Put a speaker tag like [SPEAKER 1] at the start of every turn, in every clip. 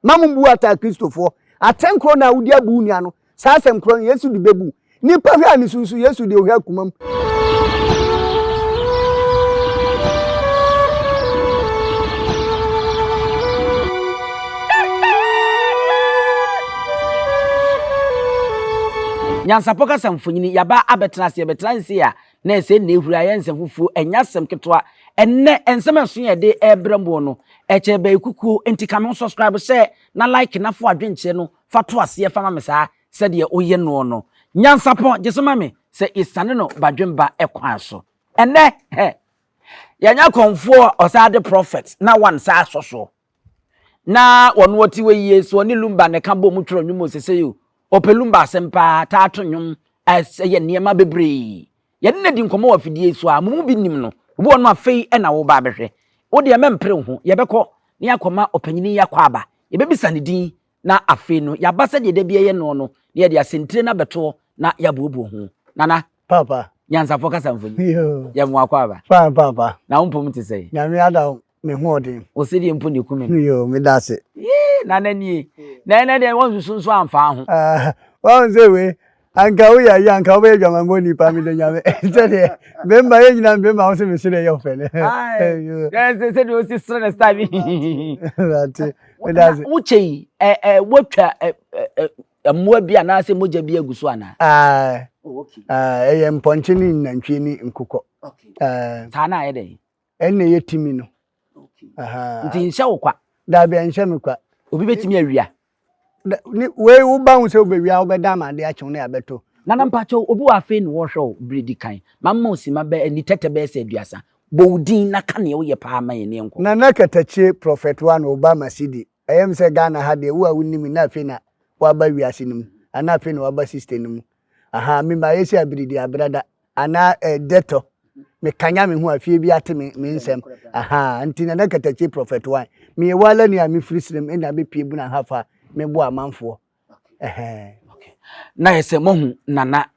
[SPEAKER 1] Mma mo mbu ataa Kristofoɔ. Atɛn korɔ na wode abu wo nua no. Saa asɛm korɔ no, Yesu de bɛbu. Nnipa hwɛ a ne su nso, Yesu deɛ ɔhwɛ akomam.
[SPEAKER 2] Nyansapɔ kasa mfonyini, Yɛaba abɛtena ase, yɛbɛtena nse a Na ɛsɛ nnɛ ehuri ayɛ nsɛmfufuo, ɛnyɛ asɛm ketewa. Ɛnnɛ nsɛm ɛso yɛ de ɛɛbrɛ moɔ no, ɛkyɛ bɛyɛ kukuo, nti ka me ho subscribe hyɛ na like na fo adwenkyeɛ no fa to aseɛ fa ma me saa sɛdeɛ woyɛ noɔ no. Nyansapɔn gye so ma me sɛ yɛsiane no badwemba kwan so. Ɛnnɛ hɛ! Yɛanya kɔmfoɔ ɔsaa de prophet na one saa sɔ soɔ. Na wɔn wɔte wɔ yie so ɔne lumba na ɛka bɔ mu twerɛ nnwom osese o ɔpɛ lumba asɛm paa taa to nnwom ɛsɛ yɛ nneɛma bebree yɛde na di nkɔmɔ wɔ afidie so a mo mu bi nim no obi wɔ no afei ɛna wo ba abɛhwɛ wo deɛ mɛmpere ho yɛbɛkɔ ne akɔma ɔpanyini yakɔ aba yɛbɛbisa ne din na afei no yɛaba sɛdeɛ da bi ɛyɛ noɔ no na yɛde asɛntire no abɛtoɔ na yɛabuobuo ho nana Papa.
[SPEAKER 1] nyansafoɔ kasa mfoni
[SPEAKER 2] Yoo. yɛmmoa kɔ aba Fine papa. na wo mpom
[SPEAKER 1] te sɛn
[SPEAKER 2] Nyame ada wo. me
[SPEAKER 1] hoɔden. Wo sedie mpo na ɛku me
[SPEAKER 2] no. Yoo, meda ase.
[SPEAKER 1] Yii, Nana nie.
[SPEAKER 2] Na ɛnnɛ deɛ woansusu nso amfaa ho. Ah, woahu sɛ
[SPEAKER 1] wei, anka woyɛ ayi a, anka wobɛyɛ dwamanbɔni paa, meda Nyame. Sɛdeɛ, bɛmma, yɛn nyinaa no bɛmma a wose mese deɛ ɛyɛ wo fɛ no. Ae, Yoo. na ɛsɛ
[SPEAKER 2] sɛdeɛ wosi sere no style bi hihihihi. Mate,
[SPEAKER 1] meda ase. Na wokyɛ yi, ɛ,
[SPEAKER 2] ɛ, woatwa ɛ, ɛ, ɛ, mmoa bi anaasɛ mogya bi agu so anaa? Ae, Oh, okay.
[SPEAKER 1] ae, ɛyɛ mpɔnkye ne nantwie ne nkokɔ. Okay. Ae. Saa
[SPEAKER 2] no ayɛ dɛn? ɛnna ɛyɛ timi
[SPEAKER 1] no.
[SPEAKER 2] nti nhyɛ wo kwa. daabi ɛnhyɛ me kwa.
[SPEAKER 1] obi bɛtumi awia. wei woba ho sɛ wobɛwia wobɛda ama ade akyew ne abɛto. nana mpakyɛw obi wɔ
[SPEAKER 2] afei ne wɔhwɛ wo bere di kan ma mma osima bɛ ani tɛtɛ bɛyɛ sɛ aduasa bɔ wo din na ka nea woyɛ paa ma yɛn ne nkɔ. nana katakyie
[SPEAKER 1] prɔfɛt wa no oba masidi ɛyɛ me sɛ ghana ha deɛ wo a wonim na afei na waba wiase no mu anaa afei na waba system no mu Ahaa me ma yɛsi abiri di abrada anaa ɛdɛtɔ me kanya me ho a fie bi ate me me nsɛm ahaa nti na na katakyi prɔfɛt wan meyɛ wala ni a me firi srem ɛna me pie buna ha fa me bo amanfoɔ ɛhɛn.
[SPEAKER 2] na yɛ sɛ moahu nana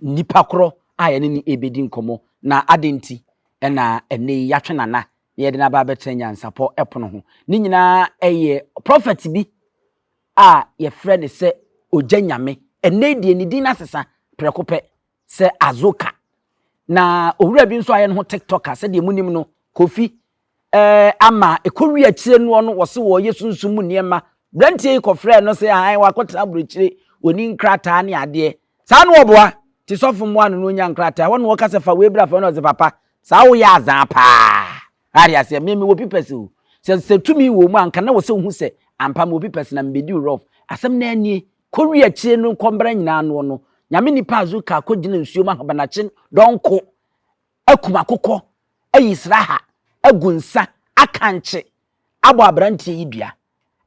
[SPEAKER 2] nipa korɔ a yɛne ne ɛbɛdi nkɔmmɔ na adɛn nti ɛna ɛnɛ yi yɛatwe nana na yɛde no aba abɛtena nyansapɔ ɛpono ho ne nyinaa ɛyɛ prɔfɛt bi a yɛfrɛ no sɛ ogya nyame. Ɛnnɛ yi deɛ ne din no asesa prɛko pɛ sɛ Azoka. Na owura bi nso ayɛ ne ho tiktoker sɛdeɛ monim no Kofi eh, ama ɛkɔwie akyire noɔ no wɔse wɔyɛ sunsum mu nneɛma. Branteɛ yi kɔfrɛɛ no sɛ ahan wakɔtena aburokyire wɔni nkrataa ne adeɛ. Saa no ɔboa nti sɔfo mmoa no na ɔnya nkrataa. Ɛhɔ na wɔka sɛ fa wei bra fa wei na ɔse papa saa woyɛ azaa paa. Wate aseɛ? Me, mewɔ pipɛs o. Sɛ, sɛ tumi wɔ mu a, anka na wɔ sɛ wohu sɛ, ampa, mewɔ pipɛs na mebɛdi wo rɔf. Asɛm no ara nie. Kɔwie akyire no, kɔ mbra nyinaa noɔ no. Nyame nipa a zu ka, kɔgyina nsuo mu ahabanakye dɔnko, akum akokɔ, ayi sraha, agu nsa, akankye, abɔ aberanteɛ yi dua.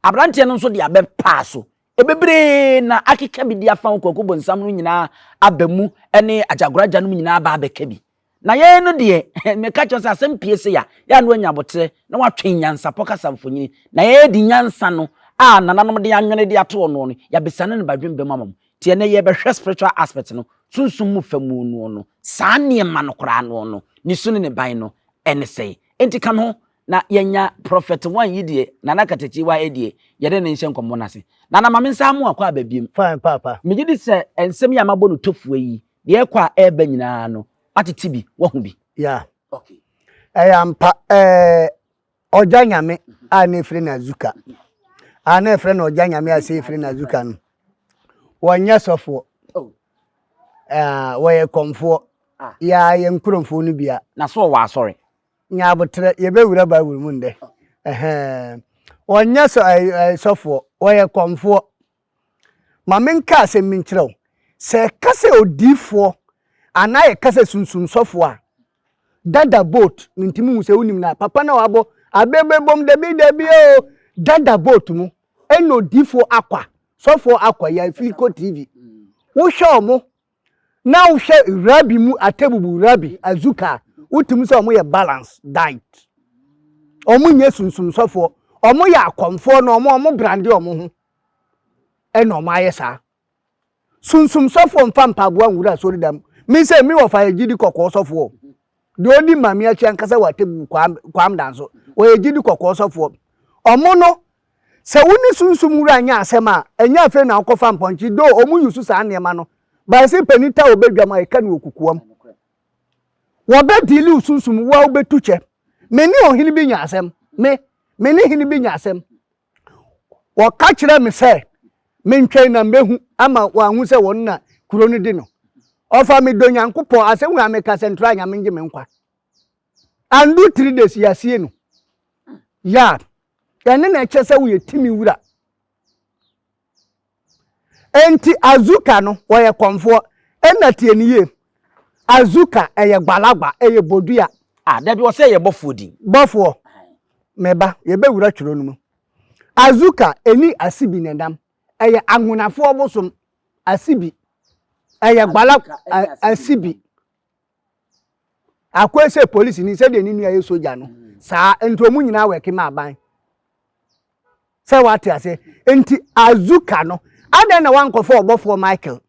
[SPEAKER 2] Aberanteɛ no nso de abɛ paa so, Bebree na akeka bi de afa wo kwaku bonsam no nyinaa aba mu ne agyagoro agya no mu nyinaa aba abɛka bi. Na yɛn no deɛ, meka kyerɛ sɛ asɛm pie se ya, yɛ a na wanya aboterɛ na watwe nyansapɔ kasa mfonini. Na yɛyɛ de nyansa no a nananom de anwene de ato ɔnoɔ no, yɛabesane no badwemba mu ama mo. Nti ɛnnɛ yɛrebɛhwɛ spiritual aspect no, sunsum mu fa mu noɔ no. Saa nneɛma no koraa noɔ no, ne su ne ne ban no, ɛne sɛn? Nti ka me ho Na yɛnya Prɔfɛt Wan yi deɛ, Nana Katakyi Waa yi deɛ, yɛne no nhyɛ nkɔmmɔ no ase. Nana, ma mensan mmoa kɔ aba biom. Fine, Paapa. Megye di
[SPEAKER 1] sɛ nsɛm
[SPEAKER 2] yi a mabɔ no tofua yi, deɛ ɛrekɔ a ɛreba nyinaa no, woatete bi, woahu bi? Ya. Okay.
[SPEAKER 1] Ɛyɛ ampa. Ɛɛ, Ɔgya Nyame a na efrɛ no Azuka, a na ɛfrɛ no Ɔgya Nyame a sɛ efrɛ no Azuka no, wɔnyɛ sɔfoɔ. Oh. Ɛɛ, wɔyɛ kɔmfoɔ. Ah. Ya, yɛn nkurɔfoɔ no bia. Na so ɔwɔ asɔre?
[SPEAKER 2] Nya aboterɛ,
[SPEAKER 1] yɛbɛwura Bible mu ndɛ. Ɛhɛɛm. Wɔnyɛ sɔ ɛɛ ɛɛ sɔfoɔ, wɔyɛ kɔmfoɔ. Ma menka asɛm bi nkyerɛ wo. Sɛ ɛka sɛ odiyifoɔ anaa yɛka sɛ sunsum sɔfoɔ a, dada boat, mentumi nhu sɛ wonim no a, papa no a wabɔ abebebom dabi dabi oo, dada boat mu ɛna odiyifoɔ akwa, sɔfoɔ akwa, yɛafi kɔ TV. Wohwɛ wɔn Ná wohwɛ Rabi mu Atebubu Rabi Azuka a, wotumi sɛ wɔyɛ balance diet. Wɔnyɛ sunsumsɔfoɔ. Wɔyɛ akɔmfoɔ na wɔn a wɔbrande wɔn ho na wɔayɛ saa. Sunsumsɔfoɔ mfa mpaboa nwura asɔredan mu. Me sɛ me wɔfa yɛ gyidi kɔkɔɔ sɔfoɔ. deɛ ɔdi Maame akyi ankasa wɔ atemmu mu, Kwam, Kwam Danso. Ɔyɛ gyidi kɔkɔɔ sɔfoɔ. Ɔmo no, sɛ wo ne Sunsum Wura nya asɛm a, ɛnyɛ afei na wokɔfa mpɔnkye, though ɔmo use saa nneɛma no, but ɛse panin ta obe dwam a, ɛka no wɔ kukuam. Wɔbɛ deale wo Sunsum, wo a wobɛtu kyɛ. Me ne ɔhene bi nya asɛm. Me, me ne hene bi nya asɛm. Wɔka kyerɛɛ me sɛ mentwɛn na mehu ama wɔahu sɛ wɔn na kuro no di no. Ɔfa me dɔ Nyankopɔn asɛm a meka sɛ ntra Nyame ngye me nkwa. Andu three days yɛasie no. Yeah, ɛne na ɛkyɛ sɛ woyɛ timi wura. Enti Azuka no, wɔyɛ kɔmfoɔ. Ɛna tie no yie. Azuka, ɛyɛ gbalagba, ɛyɛ bodua. Ah, dabi, ɔsɛ
[SPEAKER 2] ɛyɛ bɔfoɔ din. Bɔfoɔ,
[SPEAKER 1] me ba, yɛbɛwura twerɛ no mu. Azuka, ɛni Asibi na ɛnam. Ɛyɛ Anhonafoɔ bosom, Asibi. Ɛyɛ gbalagba, Asibi. Akoi sɛ polisini sɛdeɛ ne nua yɛ sogya no saa nti wɔn nyinaa wɛke ma aban sɛ wate ase nti azuka no adɛn na wankɔfa ɔbɔfoɔ Michael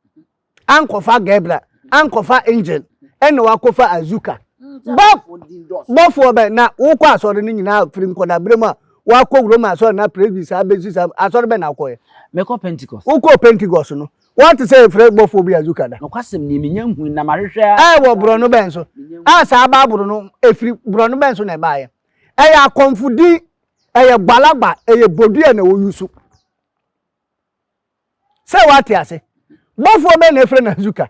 [SPEAKER 1] ankɔfa Gabriel ankɔfa angel ɛna wakɔfa azuka bɔfoɔ bɛ na wokɔ asɔre no nyinaa firi nkɔdaberɛ mu a wakɔ wurom asɔre na presby saa bɛsi saa asɔre bɛ na wokɔɛ mekɔ pentecost
[SPEAKER 2] wokɔ pentecost no
[SPEAKER 1] Woate sɛ yɛfrɛ bɔfoɔ bi Azuka da? Nokwasɛm nie, mennya nhui,
[SPEAKER 2] na mahwehwɛ ara a. Ɛwɔ borɔno bɛn
[SPEAKER 1] so a saa Bible no firi? Borɔno bɛn so na ɛbaeɛ? Ɛyɛ akɔmfo din, ɛyɛ gbalagba, ɛyɛ bodua na wɔyi so. Sɛ woate ase? Bɔfoɔ bɛn na ɛfrɛ no Azuka?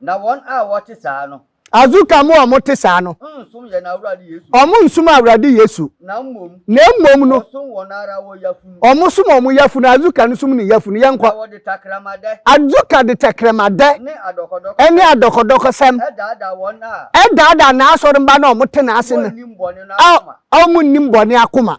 [SPEAKER 3] Na wɔn a wɔte saa no. Azu ka mo a wɔte
[SPEAKER 1] saa no. Nnsom yɛn Awurade
[SPEAKER 3] Yesu. Wɔnnsom Awurade
[SPEAKER 1] Yesu. Na mmom.
[SPEAKER 3] Na mmom no. Wɔsom
[SPEAKER 1] wɔn
[SPEAKER 3] ara wɔn yafunu. Wɔsom wɔn yafunu.
[SPEAKER 1] Azu ka no som ne yafunu. Yɛnkɔ. Na wɔde tɛkrɛmadɛ.
[SPEAKER 3] Azu ka de
[SPEAKER 1] tɛkrɛmadɛ. Ne adɔkɔdɔkɔsɛm.
[SPEAKER 3] Ne adɔkɔdɔkɔsɛm.
[SPEAKER 1] Daadaa wɔn
[SPEAKER 3] a. Daadaa n'asɔremma
[SPEAKER 1] no a wɔte n'ase no. Wɔnnim bɔne no akoma. A wɔnnim bɔne akoma.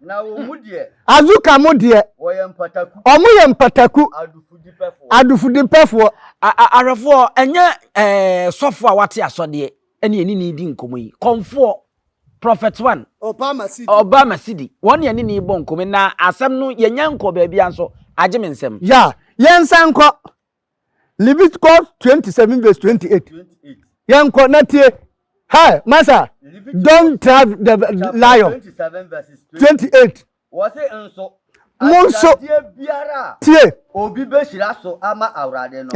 [SPEAKER 1] Na wɔn mu
[SPEAKER 3] deɛ. Azuka mo deɛ. Wɔyɛ
[SPEAKER 1] mpataku.
[SPEAKER 3] Wɔn yɛ mpataku.
[SPEAKER 1] Adufudipɛfoɔ. Adufudipɛfoɔ.
[SPEAKER 2] Ahwɛfoɔ, ɛnyɛ ɛɛ sɔfoɔ a wate asɔdeɛ ɛne ɛne ne di nkɔmɔ yi. Kɔnfoɔ, Prophet One. Ɔba Masidi. Ɔba Masidi. Wɔn ne ɛne ne bɔ nkɔmɔ yi, na asɛm no yɛnya nkɔɔ baabi ara nso, agye me nsam. Ya, yɛnsan
[SPEAKER 1] nkɔ. Leviticus 27 verse 28. Yɛnkɔ na tie. Hey, masa, don't trap the lion. 28. Wɔse nso,
[SPEAKER 3] mo nso
[SPEAKER 1] biara a
[SPEAKER 3] tie. Obi
[SPEAKER 1] bɛhyira
[SPEAKER 3] so ama awurade no.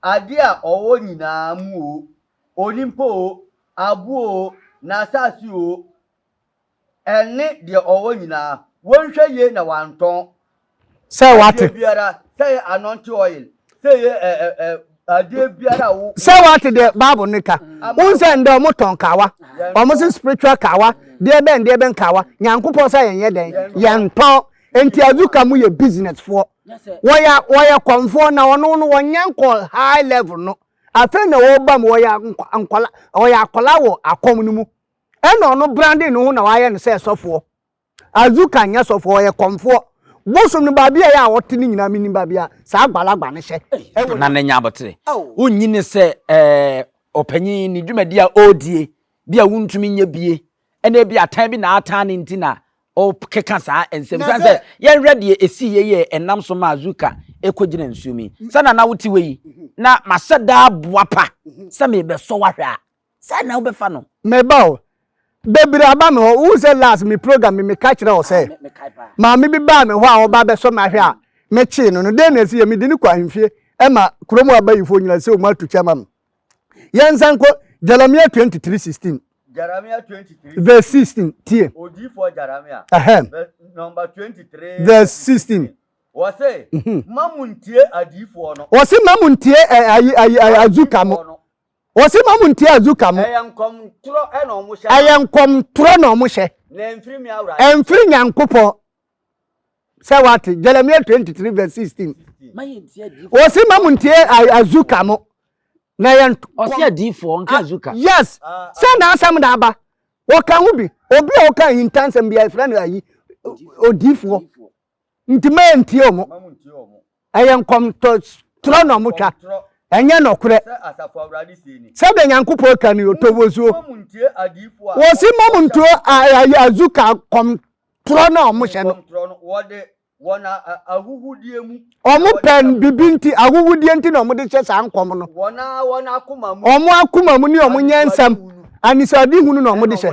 [SPEAKER 3] Adeɛ a ɔwɔ nyinaa mu o, onimpo o, aboɔ o, n'asase o, Ɛnne deɛ ɔwɔ nyinaa. Wonhwɛ yie na wantɔn. Sɛ wate.
[SPEAKER 1] Adeɛ biara, sɛ ɛyɛ
[SPEAKER 3] anɔnte oil, sɛ ɛyɛ ɛ ɛ ɛ adeɛ biara a wo. Sɛ wate deɛ Bible
[SPEAKER 1] no ka. Wohu sɛ ndɛ wɔn tɔn kawa. Wɔn se spiritual kawa, deɛ bɛn deɛ bɛn kawa. Nyankopɔn sɛ yɛn yɛ dɛn? Yɛn tɔn. Nti Azuka mo yɛ business foɔ. Wɔyɛ wɔyɛ kɔnfoɔ na wɔn no wɔn nyɛ nkɔ high level no. Afei na wɔba mu wɔyɛ nkɔla wɔyɛ akɔla wɔ akɔm no mu. Ɛna ɔno brandee ne ho na wayɛ no sɛ sɔfoɔ. Azuka nyɛ sɔfoɔ, ɔyɛ kɔmfoɔ. Bosom no baabi a ɛyɛ a ɔte no nyinaa menim baabi a saa agbalagba no hyɛ. Ɛwɔ. Na ne nyabotere.
[SPEAKER 2] Wonnyi no sɛ ɔpanyin, ne dwumadi a ɔredie bi a wontumi nyɛ bie, ɛna ebi a tan bi na atan no nti na ɔkeka saa nsɛm yi. Siane sɛ yɛnhwɛ deɛ ɛsiiɛ yi a ɛnam so maa Azuka kɔgyina nsuom yi, sɛdeɛ na wote hɔ yi, na mahyɛ daa boapa sɛ merebɛsɔ wo ahwɛ a. Sɛn na wobɛfa no? Me ba o,
[SPEAKER 1] bebiri aba me hɔ. Wohu sɛ last me program me meka kyerɛ wo sɛ maame bi baa me hɔ a ɔba bɛsɔ me ahwɛ a mekyee no no. Dɛn na ɛsi yɛ? Mede no kɔ ahemfie ma kurom abayifoɔ nyina sɛ wɔn ato kyɛ ma me. Yɛnsan nkɔ Jeremia 23 16. Jeremia 23 verse 16
[SPEAKER 3] tie.
[SPEAKER 1] Odiyifoɔ
[SPEAKER 3] Jeremia number 23 verse
[SPEAKER 1] 16. Wɔse mhm.
[SPEAKER 3] ma mu ntie adiyifoɔ no. Wɔse ma mu ntie
[SPEAKER 1] eh, ayi ayi azuka mo. Wɔsi ma mo ntia azuka mo. Ɛyɛ nkɔm ntorɔ
[SPEAKER 3] na wɔn hyɛ. Ɛyɛ nkɔm ntorɔ na
[SPEAKER 1] wɔn hyɛ. Na ɛnfiri me Awurade.
[SPEAKER 3] Ɛnfiri
[SPEAKER 1] Nyankopɔn. Sɛ wate Jeremiah twenty
[SPEAKER 3] three
[SPEAKER 1] verse sixteen. Wɔsi ma mo ntia azuka mo. Na ɛyɛ nkɔm. Ɔsi adiifoɔ
[SPEAKER 2] nka azuka. Ah, yes, ah, ah. sɛ
[SPEAKER 1] n'asɛm na aba. Wɔka ho bi. Obi a ɔka ahintansɛm bi a yɛfrɛ no ayi odiifoɔ. Nti mantie ɔmo. Ɛyɛ nkɔmtorɔ na ɔmo twa, ɛnyɛ nɔkorɛ. Sɛdeɛ Nyankopɔn ka ni, Ɔtɔ bosuo. Wɔsi mma mo nturo azu ka nkɔmtorɔ no a ɔmo hyɛ no. Wɔn
[SPEAKER 3] ahuhudeɛ mu. Wɔn pɛ bibi
[SPEAKER 1] nti ahuhudeɛ nti na wɔn de hyɛ saa nkɔm no. Wɔn a wɔn akoma
[SPEAKER 3] mu. Wɔn akoma mu ne wɔn
[SPEAKER 1] nyɛ nsɛm. Anisoadehunu na wɔn de hyɛ.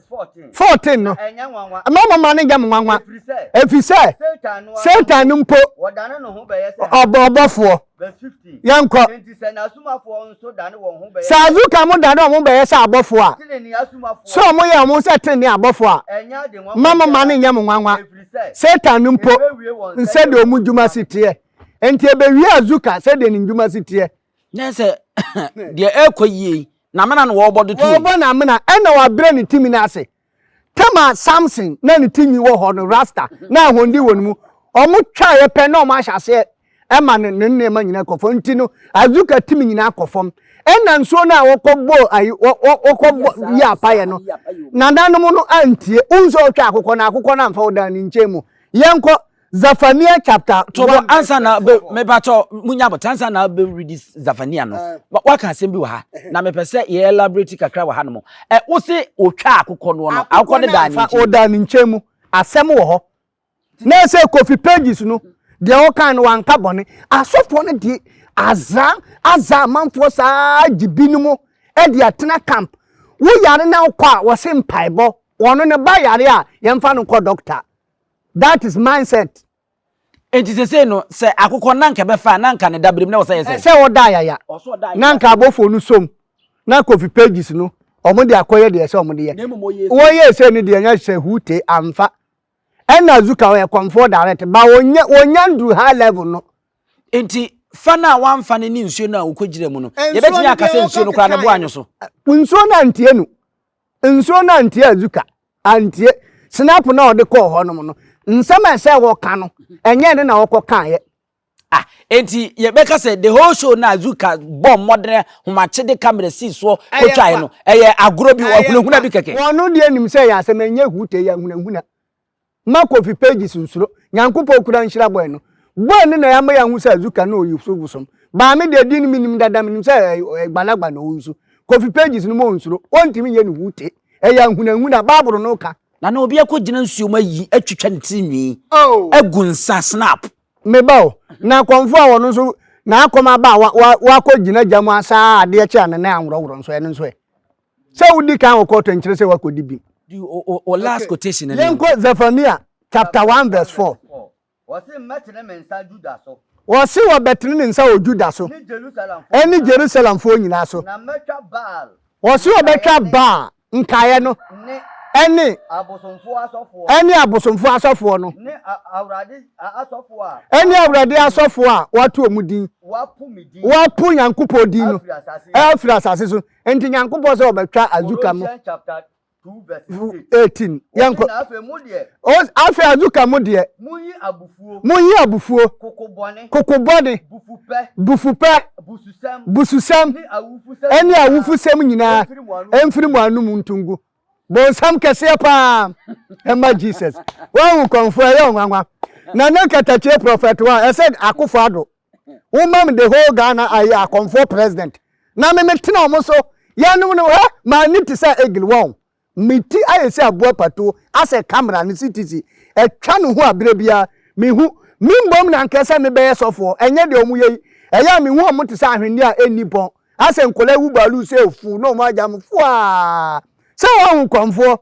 [SPEAKER 1] 14 no, mma mo mma no nyɛ mo nwanwa, ɛfiri sɛ Satan no mpo
[SPEAKER 3] ɔbɔ ɔbɔfoɔ.
[SPEAKER 1] Yɛnkɔ.
[SPEAKER 3] Sɛ azuka mo dane wɔn
[SPEAKER 1] bɛyɛ sɛ abɔfoɔ a, sɛ wɔn yɛ wɔn sɛ tenenee abɔfoɔ a, mma mo mma no nyɛ mo nwanwa, Satan no mpo nsɛdeɛ wɔn dwuma si teɛ. Enti ɛbɛwie azuka sɛdeɛ ne dwuma si teɛ. Nyɛ sɛ
[SPEAKER 2] deɛ ɛrekɔ yie yi, n'amena na wɔrebɔ de to yi. Wɔrebɔ n'amena ɛna
[SPEAKER 1] wabrɛ ne timi no ase. Tama Samson na ne tinwi wɔ hɔ no rasta na ahoɔden wɔ ne mu. Wɔn twaeɛ pɛ na wɔn ahyɛ aseɛ ɛma no ne nneɛma nyinaa kɔ fam nti no Azuka timi nyinaa kɔ fam. Ɛna nsuo no a wɔkɔ bɔ ayi wɔkɔ bɔ yi apayɛ no nananom no antie. Wohu sɛ ɔtwa akokɔ na akokɔ no amfa wo dan ne nkyɛn mu. Yɛnkɔ. Zafania chapter one. Tɔbɔ ansa na
[SPEAKER 2] bɛ mɛbatɔ mu nya abɔtɔ ansa na bɛ redi Zafania no. Waka asɛm bi wɔ ha na mepɛ sɛ yɛ elaborate kakra wɔ ha nom. Ɛ wose otwa akokɔ no no akokɔ no daa ne nkyɛn. Ɔdaa ne nkyɛn mu.
[SPEAKER 1] Asɛm wɔ hɔ. Na ɛsɛ Kofi pages no deɛ ɔkan no wanka bɔne. Asɔfoɔ no deɛ azra azra amanfoɔ saa gye binom ɛde atena camp. Wo yare na wokɔ a wɔse mpaebɔ. Wɔn no ba yare a yɛmfa no nkɔ doctor. That is mindset. Enti
[SPEAKER 2] sesei no, sɛ akokɔ na anka ɛbɛfa a, na anka ne dabere mu na ɛwɔ sɛ ɛyɛ sɛn? Ɛsɛ ɔda ayaya.
[SPEAKER 1] Na anka abɔfoɔ no som, na Kofi pages no, wɔde akɔyɛ deɛ ɛsɛ wɔde yɛ. Wɔyɛɛ sei no deɛ ɛnyɛ sɛ who te amfa. Ɛna Azuka ɔyɛ kɔmfoɔ direct, but wɔnyɛ wɔnya nduru high level no. Enti
[SPEAKER 2] fa no a wamfa no ne nsuo no a ɔkɔgyina mu no, yɛbɛtumi aka sɛ nsuo no koraa no bo anyɔ so? Nsuo no antie
[SPEAKER 1] no. Nsuo no antie Azuka, antie. Snap no a ɔde kɔɔ hɔ nom no, nsɛm a ɛsɛ wɔka no, ɛnyɛ ɛno na wɔkɔ kaeɛ. Ah, enti
[SPEAKER 2] yɛbɛka sɛ the whole show no a Azuka bɔɔ mmɔden homakyede kamera sii soɔ kɔtwaeɛ no, ɛyɛ agorɔ bi, ɔhunahuna bi kɛkɛ. Wɔn deɛ nim sɛ ɛyɛ
[SPEAKER 1] asɛm, ɛnyɛ huu tee, ɛyɛ ahunahuna. Mma coffee pages nsuro. Nyankopɔn kura nhyira boy no. Boy no na yɛama yɛahu sɛ Azuka no ɔyi so bosom. Baa me deɛ din no menim dada menim sɛ gbanagba na ɔwɔ nsu. Coffee pages no ma ɔnsuro. Ɔntumi nyɛ ne hu te. Ɛyɛ ahunahuna. Bible no ka. Na na obi akɔ gyina
[SPEAKER 2] nsuo mu ayi atwitwa ne tiri nwi agu nsa snap. Me ba o.
[SPEAKER 1] Na kɔmfoɔ a ɔno nso na akɔm aba a wakɔ gyina gya mu asaa adeɛ kye a ne nan anworɔworɔ nso ɛno nso ɛ. Sɛ wodi kan wɔ kɔɔto nkyerɛ sɛ woakɔdi bem. Di wo last
[SPEAKER 2] quotation no. Yɛnkɔ Zephaniah
[SPEAKER 1] chapter one verse four. Wɔse
[SPEAKER 3] mɛtene me nsa Judah so. Wɔse wɔbɛtene
[SPEAKER 1] ne nsa wɔ Judah so. Ne Jerusalemfoɔ nyinaa. Ɛne Jerusalemfoɔ nyinaa so. Na mɛtwa Baal.
[SPEAKER 3] Wɔse wɔbɛtwa
[SPEAKER 1] Baal nkaeɛ no. Ne. Ɛne. Abosomfoɔ asɔfoɔ. Ɛne abosomfoɔ asɔfoɔ no. Ne Awurade
[SPEAKER 3] asɔfoɔ a. Ɛne Awurade asɔfoɔ
[SPEAKER 1] a wɔato wɔn din. Wɔapo me din. Wɔapo Nyankopɔn din no. Afiri asase so. Afiri asase so. Enti Nyankopɔn sɛ ɔbɛtwa Azuka no Colossians chapter 2
[SPEAKER 3] verse vu 8. 18 Wɔsi
[SPEAKER 1] yɛnkɔ na afei mo deɛ, O, afei Azuka mo deɛ munyi abufuo, monyi abufuo koko bɔne, koko bɔne bufupɛ, bufupɛ bususɛm, bususɛm ne awufusɛm ɛne nyinaa awufusɛm nyinaa mfiri mo anom mfiri mo ngu. anom nto ngu bonsam kɛseɛ paa ɛma Jesus wahu kɔmfoɔ ɛyɛ ɔnwanwa na ne nkatakyie prɔfɛtoa ɛsɛ akofo ado Wo ma me the whole Ghana ayi akɔmfoɔ president. Na me me tena ɔmo so. Yɛnom no hɛ maa ni te sɛ eagle wɔn. Me ti ayɛ sɛ aboa patuo asɛ camera no CTC ɛtwa ne ho a berɛ biara me hu. Me mmom na nka sɛ me bɛyɛ sɔfoɔ ɛnyɛ deɛ ɔmo yɛ yi. Ɛyɛ a me hu ɔmo te sɛ ahweneɛ a ɛnni pɔn asɛ nkɔlaa awu baaluu sɛ ɛfuu na ɔmo agya mo fuaa sɛ wɔn ho kɔmfoɔ.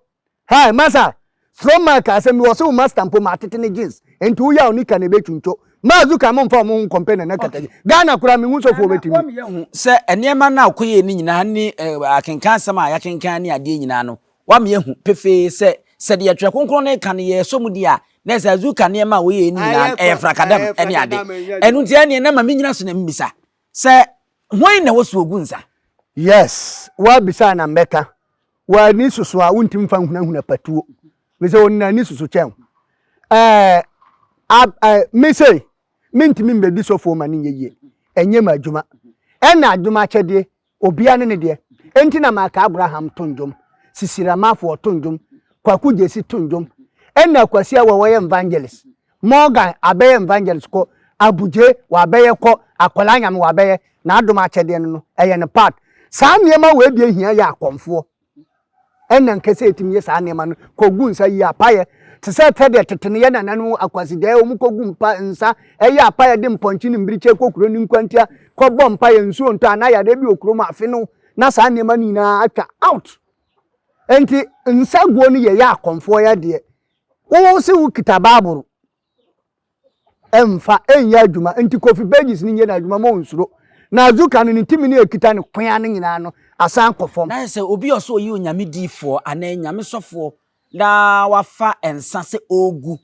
[SPEAKER 1] Hi masa, Strong man ka asɛm bi wɔ se wo master mpo ma atete ne jeans enti wo yaw nika na ebe twuntwo. Mazu ka mo nfa ɔmo ho nkɔmpɛ nana kata bi. Ghana koraa me hu sɛ ofoɔ obetumi. Ghana wɔn yɛ hu sɛ
[SPEAKER 2] nneɛma no a ɔkɔ yɛɛ no nyinaa ne akenkan asɛm a yɛakenkan ne adeɛ nyinaa no wɔn yɛ hu pefee sɛ sɛ deɛ twerɛ kronkron no reka no yɛsɔ mu di a na ɛsɛ azu ka nneɛma a wɔyɛɛ no nyinaa ɛyɛ frakadam ne ade ɛno nti ɛneɛ na ma me nyina so na me bisa Sɛ hwan na wɔso ogu nsa? Yes,
[SPEAKER 1] woabisa a na mɛka. W'ani soso a wontumi mfa nhunahuna patuo. Mesɛ wɔn nyinaa ani soso kyɛn wo. Ɛɛ, ab, ɛ, me sei, mentumi mmɛdi sɔfoɔ ma no nyɛ yie. Ɛnyɛ m'adwuma. Ɛna adwuma akyɛdeɛ Obia ne ne deɛ enti na maka Abraham to ndwom, Sisi Ramafoɔ to ndwom, Kwaku Gyesi to ndwom, ɛna Kwasi Awɛ wɔyɛ nvangelist, Morgan abɛyɛ nvangelist kɔ, Abugye wabɛyɛ kɔ, Akwadaa Nyame wabɛyɛ, N'adom akyɛdeɛ no no ɛyɛ ne part. Saa nneɛma wei deɛ hia yɛ akɔmfoɔ. Ɛnna anka sɛ yɛtumi yɛ saa nneɛma no kogu nsa yi apaeɛ te sɛ sɛdeɛ tete no yɛn nananom wɔ Akwasideɛ a wɔkɔgu mpa nsa yɛ apaeɛ de mpɔnkye ne mmirekyɛ kɔ kuro no nkwantia kɔbɔ mpaeɛ nsuo ntɔ anaa yadeɛ bi wɔ kurom afe no na saa nneɛma no nyinaa atwa out nti nsa guo no yɛyɛ akɔmfoɔ yɛ deɛ wo se wokita baaboro Ɛmfa nyɛ adwuma nti Kofi Burgess no nyɛ n'adwuma ma ɔnsuro. Na Azuka no, ne tumi no a ɛkita no ko ara no nyinaa no asan kɔ fam. Na ayɛ sɛ obi a ɔsɛ ɔyɛ
[SPEAKER 2] Onyame diyifoɔ anaa Onyame sɔfoɔ na wafa nsa sɛ ɔregu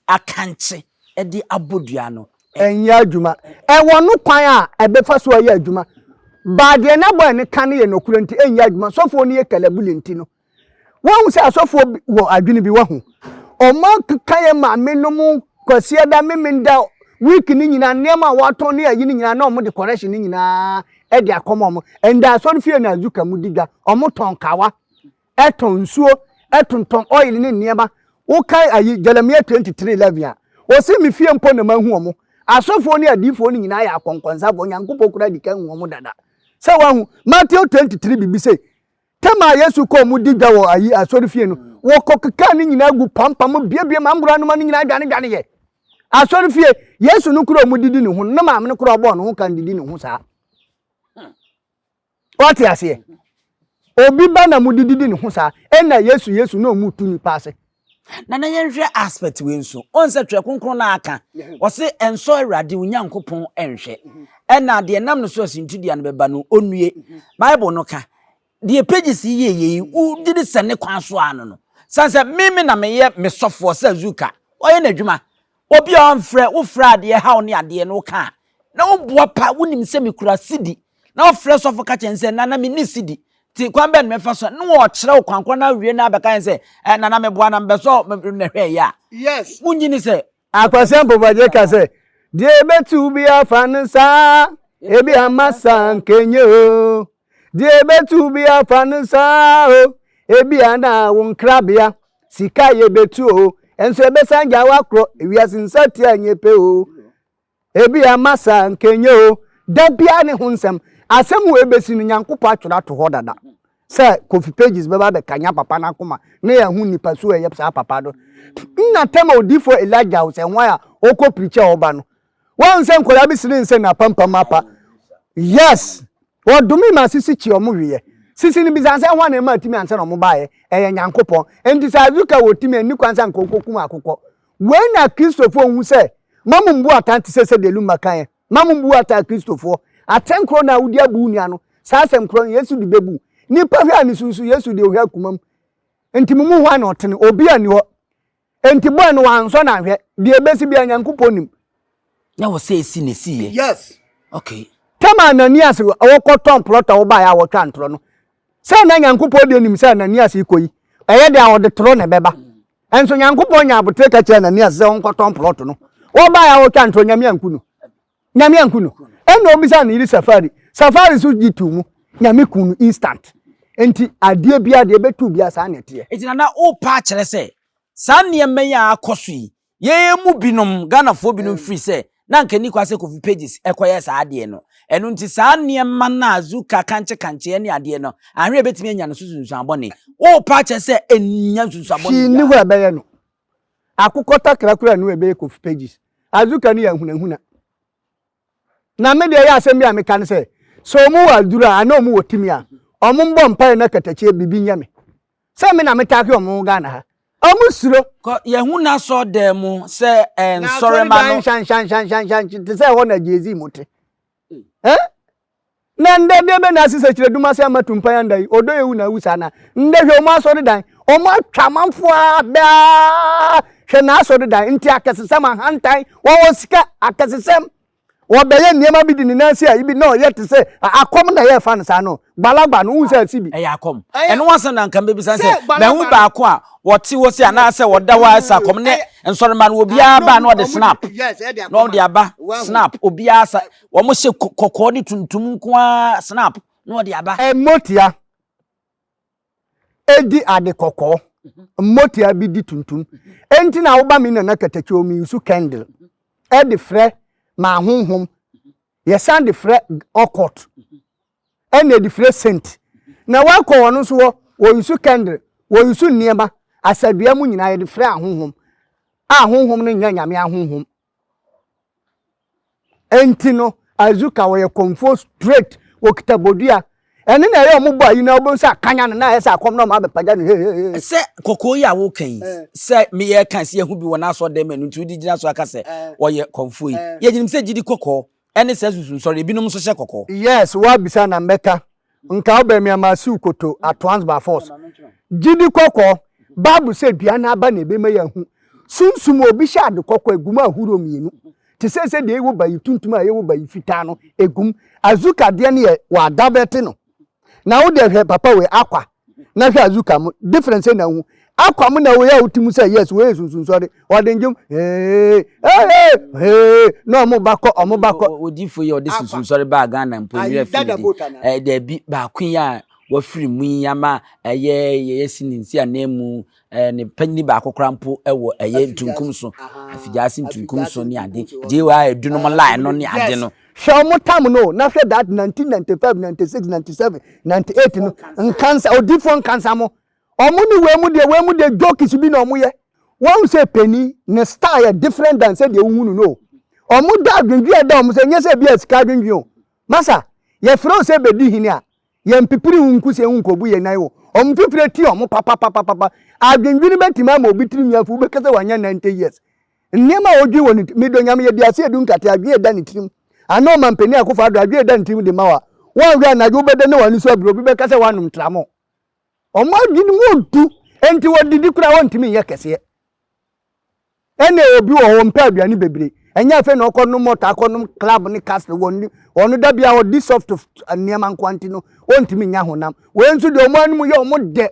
[SPEAKER 2] akankye de abɔ dua no. Ɛnyɛ adwuma.
[SPEAKER 1] Ɛwɔ no kwan a ɛbɛfa so ayɛ adwuma. Baa deɛ n'abɔɛ no ka no yɛ nɔkorɛ nti ɛnyɛ adwuma. Sɔfoɔ no yɛ kalabuli nti no. Woahu sɛ asɔfoɔ wɔ adwene bi, woahu? Ɔma keka yɛ maame nom kwasiada, memenda, week no nyinaa, nneɛma a wɔatɔn ne ayi no nyinaa na wɔn de correction no nyinaa de akɔma wɔn. Ɛnda asɔre fie na azuka mu di dwa, wɔn tɔn kawa, ɛtɔn nsuo, ɛtontɔn oil ne nneɛma. Wokan ayi Jeremiah 23:11 a, ɔse me fie mpo na mahu wɔn. Asɔfoɔ ne adiifoɔ no nyinaa yɛ akɔnkɔnsafoɔ, Nyankopɔn koraa di kan hu wɔn dada. Sɛ woahu, Matthew 23 biribi sei, Tam a Yesu kɔɔ mu di dwa wɔ ayi asɔrefie no, wɔkɔkekaa ne nyinaa gu pampam biabiam angora noma no nyinaa dwanedwaneeɛ. Asɔrefie, Yesu no kura ɔmo didi ne ho no, na maame no kura ɔbɔɔ ne ho kan didi ne ho saa. Wate aseɛ? Obi ba na mo didi di ne ho saa, ɛna Yesu Yesu na ɔmo tu nipa ase. Na na yɛnhwɛ
[SPEAKER 2] aspect wei nso. Ɔn sɛ Twerɛ Kronkron no ara ka, ɔse ɛnsɔ Awurade Onyankopɔn nhwɛ. Ɛna deɛ nam no so a suntidua no bɛba no, ɔnnue. Bible no ka, deɛ pages yi yɛ yei, wogye di sɛ ne kwan so ara no no. Sane sɛ me me na meyɛ me sɔfoɔ sɛ Zuka, ɔyɛ n'adwuma. Obi a ɔmfrɛ, wofrɛ a deɛ ɛhaw ne adeɛ no woka a, na wobua pa, wonim sɛ mekura sidi, na wofrɛ sɔfo ka kyerɛ no sɛ, Nana menni sidi, nti kwan bɛn na mɛfa so, na ɔkyerɛ wo kwan korɔ na awie na abɛka yɛn sɛ, eh, Nana meboa na mebɛsɔ nnɛhwɛ yɛ a, wonnye ni
[SPEAKER 3] sɛ.
[SPEAKER 2] Akwasi Ampofo-Adjei
[SPEAKER 1] ka sɛ, Deɛ ɛbɛtu biara fa no saa, ebia masa nka ɛnyɛ o. Deɛ ɛbɛtumi afa no saa o ebia na wo nkrabea sika yɛ bɛtu o nso ɛbɛsan gya wakorɔ ewiase nsatia nyɛ pɛ o ebia masa nkɛnyɛ o da biara ne ho nsɛm asɛm wɔ ɛbɛsi no nyankopɔn atwerɛ ato hɔ dada sɛ kofi pages bɛba bɛkanya papa no akoma ne yɛ ho nipa so ɛyɛ saa papa do nna tɛma odifoɔ elija o sɛ hwan a ɔkɔ pirikyɛ ɔba no Wahu sɛ nkwadaa bi sene nsɛ na apampam apa. Yes. Wɔdome ma sisi kyi ɔmo hweyɛ. Sisi no bisa sɛ hwan na ɛma atumi ansa na ɔmo baeɛ? Ɛyɛ Nyankopɔn. Enti sɛ Azuka wɔ tumi a ɛnni kwan sɛ anka ɔkɔkum akokɔ. Wei na Kristofoɔ nhu sɛ mma mo mbu atɛn te sɛ sɛdeɛ Luma kaeɛ. Mma mo mbu atɛn Akristofoɔ. Atɛn korɔ no a wode abu wo nua no, saa asɛm korɔ no Yesu de bɛbu. Nipa hwɛ a ne su nso, Yesu deɛ ɔhwɛ akomam. Enti mo mu hwan na ɔtene? Obi a nni hɔ. Enti bɔn no wɔansɔ no annhwɛ. Deɛ ɛbɛsi biara Nyankopɔn nim. Nyɛ wo sɛ
[SPEAKER 2] ɛsi na ɛsiiɛ. Yes. Okay. Tam a Ananias
[SPEAKER 1] rekɔtɔn plot a wɔbaeɛ a wɔtwaa ntorɔ no, sɛ na Nyankopɔn deɛ nim sɛ Ananias rekɔ yi, ɛyɛ dɛ a ɔde torɔ na ɛbɛba. Nso Nyankopɔn nyaa aboterɛ ka kyerɛɛ Ananias sɛ ɔnkɔtɔn plot no. Wɔbaeɛ a wɔtwaa ntorɔ, Nyame anku no. Nyame anku no. Ɛna ɔbisaa ne yere Safari. Safari nso gye too mu. Nyame ku no instant. Nti adeɛ biara deɛ ɛbɛto biara saa na ɛteɛ. Nti Nana worepa akyerɛ
[SPEAKER 2] sɛ saa nneɛma yi a akɔ so yi yɛn mu binom, Ghanafoɔ binom firi sɛ na anka ɛnni kwan sɛ Kofi Pages kɔyɛ saa adeɛ no. Ɛno nti saa nneɛma no a Zuka, kankyekankyeɛ ne adeɛ no anhwɛ a ɛbɛtumi anya no so nsunsuanbɔne. Worepa akyerɛ sɛ ɛnnya nsunsuanbɔne biara. Hwee nni hɔ a ɛbɛyɛ no.
[SPEAKER 1] Akokɔ takra koraa nnu ɛbɛyɛ kof pages. Azuka no yɛ ahunahuna. Na me deɛ ɛyɛ asɛm bi a meka ne sɛ, sɛ ɔmo wɔ aduru a anaa ɔmo wɔ timi a, ɔmo mbɔ mpaeɛ na katakyie bibi nyɛ me. Sɛ me na me taake ɔmo ho Ghana ha. Ɔmo suro. Kɔ yɛhu
[SPEAKER 2] n'asɔrdan mu sɛ ɛɛ nsɔremma no. N'asɔredan hyanhyanhyanhyanhyan te
[SPEAKER 1] sɛ ɛhɔ na Jay-Z mo te. Eh? Na ndɛ deɛ bɛ na asi sɛ kyerɛ dum ase ama tumpan anda yi, ɔdɔ ewu na awu saa na ndɛ hwɛ ɔmo asɔredan, ɔmo atwa amanfoɔ aa daa, hwɛ n'asɔredan, nti akɛsesɛm, ahantan, wɔwɔ sika, akɛsesɛm, ɔbɛyɛ nneɛma bi de ne nan si a ebi na ɔyɛ te sɛ akɔm na yɛɛfa no saa no, Gbalagba no, wohu sɛ ɛte bi? Ɛyɛ akɔm. Ɛno asɛm
[SPEAKER 2] na nka mebisa ne sɛ, mahu baako a wɔte hɔ se anaasɛ wɔda hɔ a ɛsɛ akɔm ne nsɔrema no obiara ba na ɔde snap na ɔde aba snap obiara sa wɔn hyɛ kɔkɔɔ ne tuntum nko ara snap na ɔde aba. Mmotia
[SPEAKER 1] edi ade kɔkɔɔ, mmotia bi di tuntum. Enti na woba me nana katakyɛw mi nsu candle ɛde frɛ ma ahonhom. Yɛsan de frɛ ɔkɔt. ɛna ɛde fire sent na wakɔ wɔn nso hɔ wɔyusu kɛndre wɔyusu nneɛma asadua mu nyinaa yɛde fire ahonhom a honhom no nyɛ nyame ahonhom ɛnti no azuka wɔyɛ kɔmfoɔ straight wɔkita bodua ɛne na ɛyɛ ɔmo bɔ ayi na ɔbɛn sɛ akanya no na ayɛ sɛ akɔm na ɔmo abɛpagya no hehehe. sɛ kɔkɔɔ yi a
[SPEAKER 2] woka yi eh. sɛ meyɛ kan sɛ yɛho bi wɔ n'asɔ dɛm ɛno nti wode gyina so aka sɛ eh. ɔyɛ kɔmfoɔ yi eh. yɛgyenim sɛ gyidi kɔkɔɔ ɛne saa susu nsɔre, ebinom nso hyɛ kɔkɔ. Yes, wo abisa na
[SPEAKER 1] mɛka. Nka wo bɛmia ma siw koto at once by force. Gyidi kɔkɔ, Bible sɛ dua no aba na ɛbɛma yɛahu. Sunsum a obi hyɛ ade kɔkɔ a, ɛgu mu ahoroɔ mmienu. Te sɛ sɛ deɛ ɛwɔ bayi tuntum a ɛwɔ bayi fitaa no, ɛgu mu. Azuka deɛ no yɛ wɔadavɛte no. Na wo deɛ hwɛ papa wei Aqua na hwɛ Azuka mo difference na hu Aqua mo na wei a wote mu sɛ yes wei yɛ sunsunsɔre ɔde ndwom ee ee ee na ɔmo ba kɔ ɔmo ba kɔ. Odifo yi ɔde
[SPEAKER 2] sunsunsɔre baa Ghana mpo ne yɛ firi de ɛdɛbi baako yi a wafiri mu yi ama ɛyɛ yɛyɛ si ne nsi ananmu Eh, ne panyin baako koraa mpo wɔ ɛyɛ ntunkum so, afigyaase ntunkum so ne ade, JY edunom line no ne ade no. Hwɛ ɔmo tam no o,
[SPEAKER 1] na hwɛ that 1995, 96, 97, 98 no, nkansa, odifoɔ nkansa mo, ɔmo ne wei mo deɛ, wei mo deɛ jokes bi na ɔmo yɛ. Wahu sɛ panin, ne style yɛ different than sɛdeɛ wohu no no o. Ɔmo dɔ adwendwen a ɛda ɔmo so, ɛnyɛ sɛ bi a sika adwendwen o. Masa, yɛfrɛ wo sɛ bɛdi hene a, Yɛmpipiri ho nku sɛ yɛnkobu yɛn nan wɔ wɔn mfifiri atie wɔn papapapapa. Adwendwene betumi ama obi tirinwi afu, wobɛka sɛ wanyɛ ninety years. Nneɛma a odwen wɔ ne ti, medɔ Nyame, yɛde ase adu nkate, adwene a ɛda ne tirim. Anaa Ɔmanpanin Akufo Addo, adwene a ɛda ne tirim de ma wo a, woanhwɛ anadwo wobɛda na w'ani so abire, obi bɛka sɛ woanom Tramol. Wɔn adwene mu odu, enti wɔdidi koraa a wɔntumi nyɛ kɛseɛ. Ɛne obi wɔ hɔ ɔmpɛ aduane bebree, ɛnyɛ afei na ɔkɔ nom ɔtaa kɔ nom club ne castle wɔ ne ɔno da biara ɔdi soft nneɛma nko nti no ɔntumi nya honam. Wei nso deɛ wɔn anum yɛ wɔn dɛ,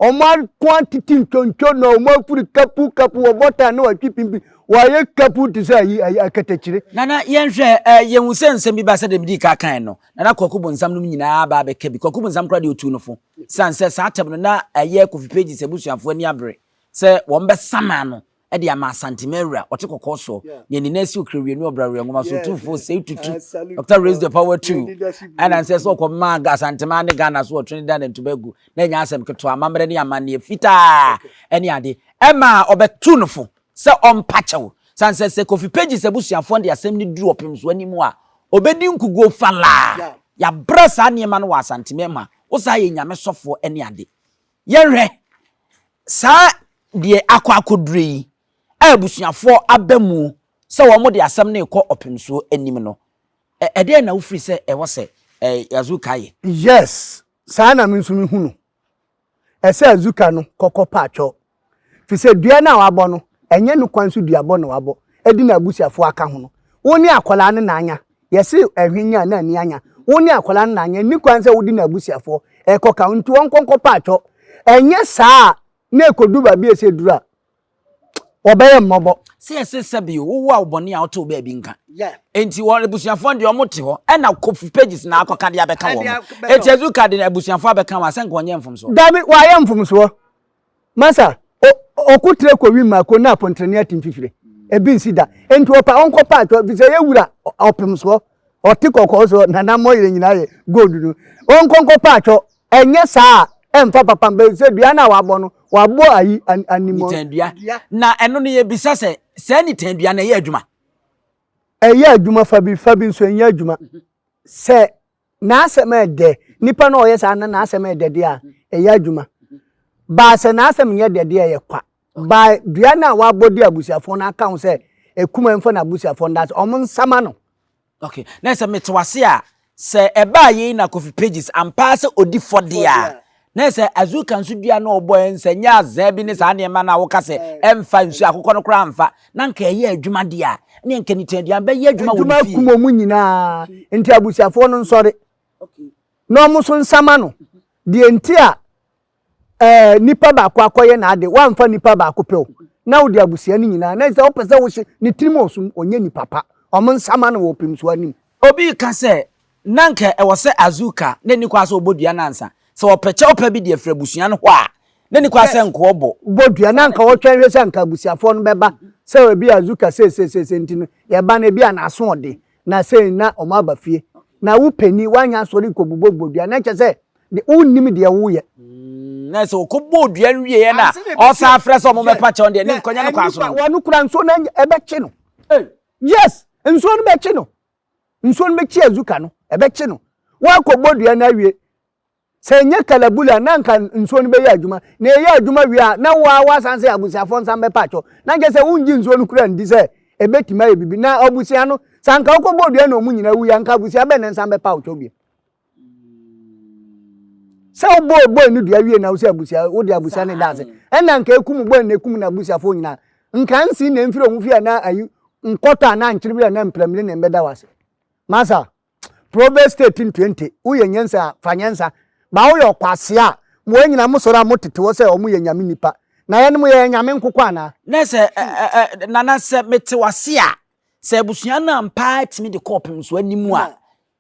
[SPEAKER 1] wɔn ako atete ntwontwo na wɔn afiri kapu kapu wɔ bɔtan ne wɔatwi pimpin wɔayɛ kapu te sɛ ayi ayi akatakyire. Nana yɛnhwɛ
[SPEAKER 2] ɛ yɛhu sɛ nsɛm bi ba sɛdeɛ medii ka kae no Nana Kwaku Bonsam nom nyinaa aba abɛka bi, Kwaku Bonsam koraa deɛ ɔtuu no fo sane sɛ saa tɛm no na ɛyɛ Kofi Pages abusuafoɔ ani abere Sɛ wɔbɛsam ano de ama Asante Mawura, ɔte kɔkɔɔ soɔ, nea ne nan si Okrawianu Ɔbrawewa Nwoma so, Otumfoɔ Seyi Tutu, Doctor Raise the Power Two, ɛna nsɛ sɛ ɔkɔma Asanteman ne Ghana so wɔ Trinidad and Tobago, na ɛnyɛ asɛm ketewa, amammerɛ ne amanneɛ fitaa ne ade, ɛma a ɔbɛtu no fo sɛ ɔmpa kyɛw, sane sɛ sɛ Kofi Pages abusuafoɔ no de asɛm no duru ɔpemso anim a, ɔbɛdi nkuguo falaa. Yɛabrɛ saa nneɛma no wɔ Asante Mema, wosan yɛ Nyame sɔfoɔ ne ade. Yɛnhwɛ saa deɛ akɔ akɔdure yi a abusuafoɔ aba mu sɛ wɔn de asɛm no rekɔ ɔpemsoɔ anim no, ɛdeɛn na wofiri sɛ ɛwɔ sɛ Azuka yɛ? Yes,
[SPEAKER 1] saa na me nso mehu no. Ɛsɛ Azuka no kɔkɔ paatwɔ. Firi sɛ dua no a wabɔ no, ɛnyɛ no kwan so duabɔ na wabɔ, ɛde n'abusuafoɔ aka ho no. Wo ne akwadaa no na anya. Yɛse ɛhwe nya na ani anya. Wo ne akwadaa no na anyɛ. Nni kwan sɛ wode n'abusuafoɔ rekɔka wo. Nti ɔnkɔ nkɔpɛ atwɔ. Ɛnyɛ saa a, na ɛkɔduru baabi a ɛsɛ ɛduru a, wɔbɛyɛ mmɔbɔ. Sɛ yɛse sɛ bio, wo
[SPEAKER 2] wo a wo bɔne a wotoo baabi nka. Enti wɔn abusuafoɔ no deɛ wɔte hɔ. Ɛna Kofi Pages na akɔka deɛ abɛka wɔn. Eti Azuka de n'abusuafoɔ abɛka wɔn a, sɛ nka ɔnyɛɛ mfomsoɔ? Dabi, wayɛ mfomsoɔ.
[SPEAKER 1] Masa, o, ɔko trɛ kɔ wim ma ko na apɔntrɛne ate mfifire. Ebi nsi da. Enti ɔpa ɔnkɔ pa atɔ, efisɛ ɛyɛ wura ɔpem soɔ. Ɔte kɔkɔɔ soɔ, na n'ammɔyere nyinaa yɛ gold no. Ɔnkɔ nkɔ pa atɔ. Ɛnyɛ saa a, ɛmfa papa mba, efisɛ dua no a wabɔ no, wabɔ ayi, animuo. Nitandua. Na
[SPEAKER 2] ɛno no yɛbisa sɛ, saa nitandua no ɛyɛ adwuma? Ɛyɛ
[SPEAKER 1] adwuma fa bi, fa bi nso ɛnyɛ adwuma. Sɛ N'asɛm a ɛyɛ dɛ, Nipa no a ɔyɛ saa na n'asɛm yɛ dɛ deɛ a, ɛyɛ adwuma. But sɛ n'asɛm nyɛ dɛ deɛ a, ɛyɛ kwa. But dua no a wabɔ de abusuafoɔ no aka ho sɛ Akuman mfa n'abusuafoɔ no danse, wɔn nsama no. Ok, na
[SPEAKER 2] sɛ mete w'ase a, sɛ ɛbaa yei na Kofi Pages ampa ara sɛ ɔdi fɔ deɛ a, Na sɛ azuka nso dua na ɔbɔ ɛ, sɛ nyɛ azaa bi ne saa nneɛma no a woka sɛ ɛmfa nsuo akokɔ no koraa mfa, na anka ɛyɛ adwuma deɛ a, ɛnneɛ anka ne tiaduan bɛyɛ adwuma wɔ ne fie. Adwuma akum wɔn nyinaa,
[SPEAKER 1] enti abusuafoɔ no nsɔre na wɔn nso nsama no. Deɛ nti a ɛɛ nipa baako akɔyɛ n'ade, woamfa nipa baako pɛ o, na wode abusua no nyinaa, na sɛ wopɛ sɛ wohyɛ ne tirim ɔsom, ɔnyɛ nipa pa, wɔn nsama no wɔ ɔpemsuo anim. Obi reka sɛ,
[SPEAKER 2] na anka ɛwɔ sɛ Azuka na ɛnni kwa sɛ ɔbɔ dua no ansa. Sɛ wɔpɛ kyɛwpa bi de afiri abusua no hɔ a, na ɛnni kwa sɛ nkoa bɔ. Bɔ dua, na anka wɔtwɛn
[SPEAKER 1] hwɛ sɛ anka abusuafoɔ no bɛba, sɛ ebia Azuka seiseisei nti no, yɛba no ebia n'aso ɔde, na sei na wɔn aba fie. Na wo panin, woanyɛ asɔre nkɔbobɔ bɔ dua, na ɛkyɛ sɛ wonnim deɛ woreyɛ. Na ɛsɛ
[SPEAKER 2] wɔkɔbɔɔ dua no wieɛ na ɔsan afrɛ sɛ wɔn bɛpa kyɛw deɛ, ne nkɔnyɛ no kwan so no. Wɔn kora nsuo no
[SPEAKER 1] ɛbɛkye no. Yes, nsuo no bɛkye no. Nsuo no bɛkyi Azuka no, ɛbɛkye no. Woakɔbɔ dua no awie. Sɛ ɛnyɛ kalabule a, na anka nsuo no bɛyɛ adwuma. Na ɛyɛ adwuma wie a, na wo ara woasan sɛ abusuafoɔ nsa mbɛpa atɔ. Na nkyɛ sɛ wongye nsuo no koraa ndi sɛ ɛbɛtumi ayɛ biribi. Na abusua no, sɛ anka wokɔbɔɔ dua na wɔn nyinaa wuiɛ a, anka abusua bɛn na nsa mbɛpa atɔ bio? sɛ wobɔɔ bɔi no dua wie na wo sɛ abusua wode abusua ne daase ɛna nka ekum bɔi na ekum na abusuafoɔ nyinaa nka nsi na mfiri ɔmo fie anaa ayi nkɔtɔ anaa nkyerɛ bi anaa mpramire na mbɛda wase masa proverbs state ntwente woyɛ nyansa a fa nyansa ba woyɛ ɔkwase a mo wɔn nyinaa mo sɔrɔ a mo tete hɔ sɛ ɔmo yɛ nyame nipa na yɛn mo yɛ nyame nkokɔ anaa. na sɛ
[SPEAKER 2] nana sɛ mete wase a sɛ abusua no ampaa tumi de kɔɔpem so anim a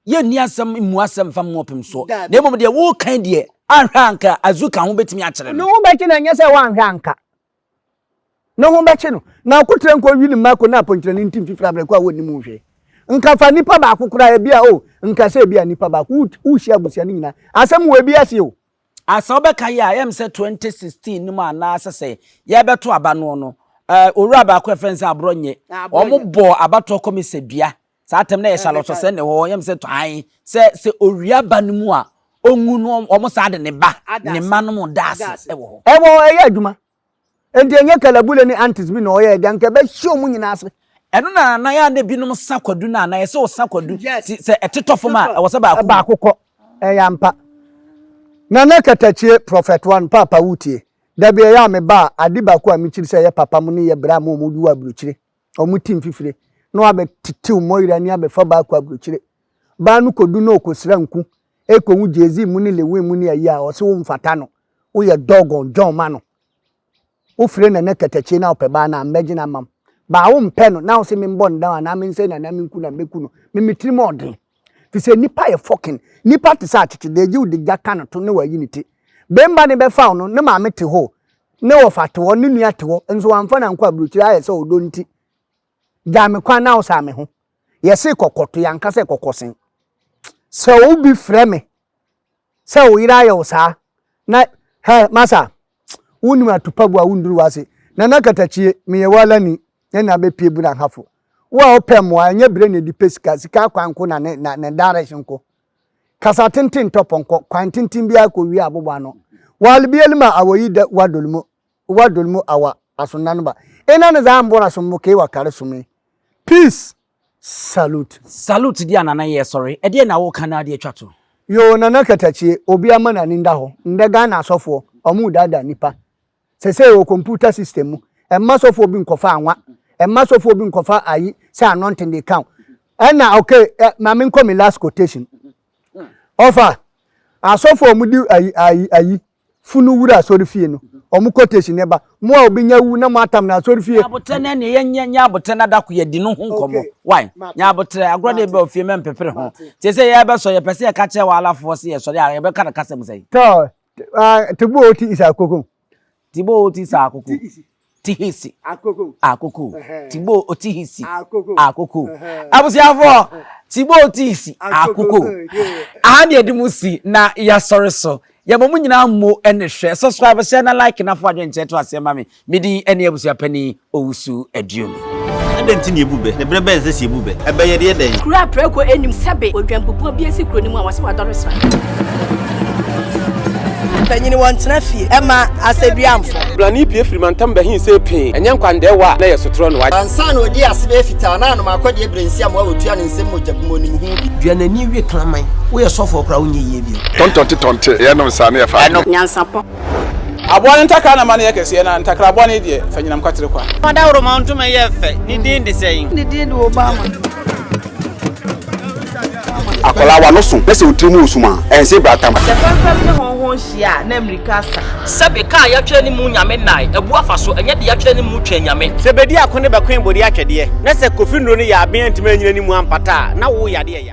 [SPEAKER 2] Yɛnni asɛm mmu asɛm mfa mmɔ ɔpem soɔ, na mmom deɛ wokan deɛ, anhwɛ a anka Azuka ho bɛtumi akyere no. Ne ho bɛkye no, ɛnyɛ sɛ
[SPEAKER 1] woanhwɛ a anka ne ho bɛkye no. Na akotrɛ nko ɔwe ne mma ko na aponkyerɛ ne ntim fifiri abrɛ ko a wɔnnim ho hwee. Nka fa nipa baako koraa, ebia o, nka sɛ ebia nipa baako, wohyia abusua no nyinaa, asɛm wɔ ebi ase o. A Sɛ wobɛkae
[SPEAKER 2] a, ɛyɛ me sɛ 2016 no mu anaa sɛ sɛ yɛrebɛto aba noɔ no, eh, owura baako a yɛfrɛ no sɛ Aborɔnyɛ, wɔbɔɔ abatoɔ kɔmɛsadua Saa atɛm no yɛ Charlotte sɛ ne hɔ yɛm sɛ tɔan sɛ sɛ owia ba no mu a onwu no wɔn saa de ne ba ne mma no mu da ase wɔ hɔ. Ɛwɔ hɔ ɛyɛ adwuma.
[SPEAKER 1] Enti ɛnyɛ kalabule ne antis bi na ɔyɛɛ de anka ɛbɛhye wɔn nyinaa ase. Ɛno na na yɛ a
[SPEAKER 2] na ebinom sa kwadu no a na yɛsɛ wɔsa kwadu ti sɛ ɛtetɔ fam a ɛwɔ sɛ baako wu. Baako kɔ. Ɛyɛ
[SPEAKER 1] ampa. Nana Katakyie, Prophet One, Paapa wotie? Dabi ɛyɛ a meba a ade baako a mekyiri sɛ ɛyɛ papa mo ne yɛ bere a mo a mo wu aburokyire wɔn ti mfifire na wɔabɛtetew Moira ani abɛfa baa kɔ aburokyire. Baa no kodu na ɔkɔsira nku, ɛrekɔhu Jay-Z mu ne Lil Wayne mu ne ayi a, ɔse wo mfata no, woyɛ doggone John ma no. Wofire Nana katakyie na wopɛ baa no a, mmɛgye no ama wo. Baa wompɛ no na wose memmɔ no down anaa mensɛe no anaa menku no a, mɛku no. Me me tirim ɔden. Fi sɛ nipa yɛ fɔkin. Nipa te sɛ akyekye, deɛ gye wo de gya ka no to ne wayi ne ti. Bemba ne bɛfa wo no, ne maame te hɔ, ne wɔfa te hɔ, ne nua te hɔ, nso wamfa no ankɔ abrokyire ayɛ sɛ ɔdɔ nti. Gya me kwan na wo saa me ho. Yɛse kɔkɔto, yɛanka sɛ kɔkɔsen. Sɛ obi frɛ me Sɛ wo yere ayɛ wo saa na hɛ masa wonnim atupagu a wonduru w'ase. Nana Katakyie, meyɛ w'alani, yɛne abɛpue bura hafo. Wo a wopɛ mmoa, ɛnyɛ berɛ na ɛde pɛ sika, sika akwan nko na ne na ne direction nko. Kasa tenten tɔ pɔnkɔ, kwan tenten biara kɔ wie abobɔ ano. Wal biel ma awa yi dɛ wa dol mu, wa dol mu awa asondan ba. Ena ne zaa mbora som mo kei wa kare some. Peace! Salute. Salute deɛ a Nana yɛ
[SPEAKER 2] sɔre. Ɛdeɛ na woka no ara de atwa to. Yoo Nana
[SPEAKER 1] Katakyie obi ama nani nda hɔ ndɛ Ghana asɔfoɔ ɔmo daadaa nipa sɛsɛɛ wɔ computer system mu ɛmma sɔfoɔ bi nkɔfa anwa ɛmma sɔfoɔ bi nkɔfa ayi sɛ anointing de ka wo ɛna ok ɛ ma me nkɔ me last quotation ɔfa asɔfoɔ ɔmo di ayi ayi ayi funu wura asɔrefie no, wɔn quotation no ba. Mo a obi nya wu na moatam no asɔrefie. Nyabotrɛ no ɛneɛ yɛnyɛ
[SPEAKER 2] nyabotrɛ no adako yɛdi no ho nkɔmmɔ. Wai? Nyabotrɛ, agorɔ deɛ bɛba ofie mɛmpepere ho. Te sɛ yɛrebɛsɔre, yɛpɛ sɛ yɛka kyerɛ w'alafoɔ sɛ yɛsɔre a, yɛbɛka no kasa mu sɛn? Tɔ, ah,
[SPEAKER 1] Teboo ti isa akoko. Teboo ti
[SPEAKER 2] isa akoko. Tihisi, Akoko, Tibo Otihisi, Akoko. Abusuafo, Tibo Otihisi, Akoko. Aha ne yɛde mo si na yɛasɔre so. Yɛma mo nyinaa mmo ne hwɛ. Subscribe, share na like na fa w'adwene nkyerɛ to aseɛ ma me. Me din ne Abusuapanin Owusu Aduomi. Adɛn nti na yɛbu
[SPEAKER 4] bɛ? Ne berɛ bɛn sɛ sɛ yɛbu bɛ? Ɛbɛyɛ deɛ dɛn? Kuro a prɛko nnim sɛbe
[SPEAKER 5] odwanbubuo bi asi kuro no mu a wɔse wadɔre sra. Mpanyini wɔntena fie ɛma asɛduamfo. Brane pue firi mantam
[SPEAKER 6] bɛhe sei pee, ɛnyɛ nkwandɛɛwa a na ɛyɛ sotorɔ no. Ansa na ɔdii ase bɛyɛ
[SPEAKER 5] fitaa no, na anom akɔdeɛ birensiam a wɔtua no nsam mogya bi mu, ɔnim ho bi. Dua n'ani wie kraman. Woyɛ sɔfoɔ koraa a wonyɛ yie bio. Tɔntɔnte tɔnte,
[SPEAKER 7] yɛnom saa na yɛfa adeɛ. Nyansapɔ.
[SPEAKER 5] Aboa no
[SPEAKER 6] ntakra na ma no yɛ kɛseɛ, na ntakra bɔne deɛ, fa nyinam kwatere kwa. Fa dawuroma ntoma yɛ
[SPEAKER 4] fɛ, ne din de sɛn? Ne din de
[SPEAKER 5] Obama.
[SPEAKER 7] Akwadaa w'ano so na sɛ wo tiri mu resum a, ɛnse brata ma. Sɛ fɛmfɛm ne hɔnhɔn
[SPEAKER 5] hyia a, na mmirika asa. Sɛbe kaa a yɛatwerɛ
[SPEAKER 8] ne mu Nyame nnae, abu afa so, ɛnyɛ de yɛatwerɛ ne mu Twɛn Nyame. Sɛ bɛdi ako ne bɛkoe
[SPEAKER 4] bɔdi atwɛdeɛ, na sɛ Kofi Nnuro no yɛ aben antumi anyina ne mu ampata a, na wo yadeɛ ya.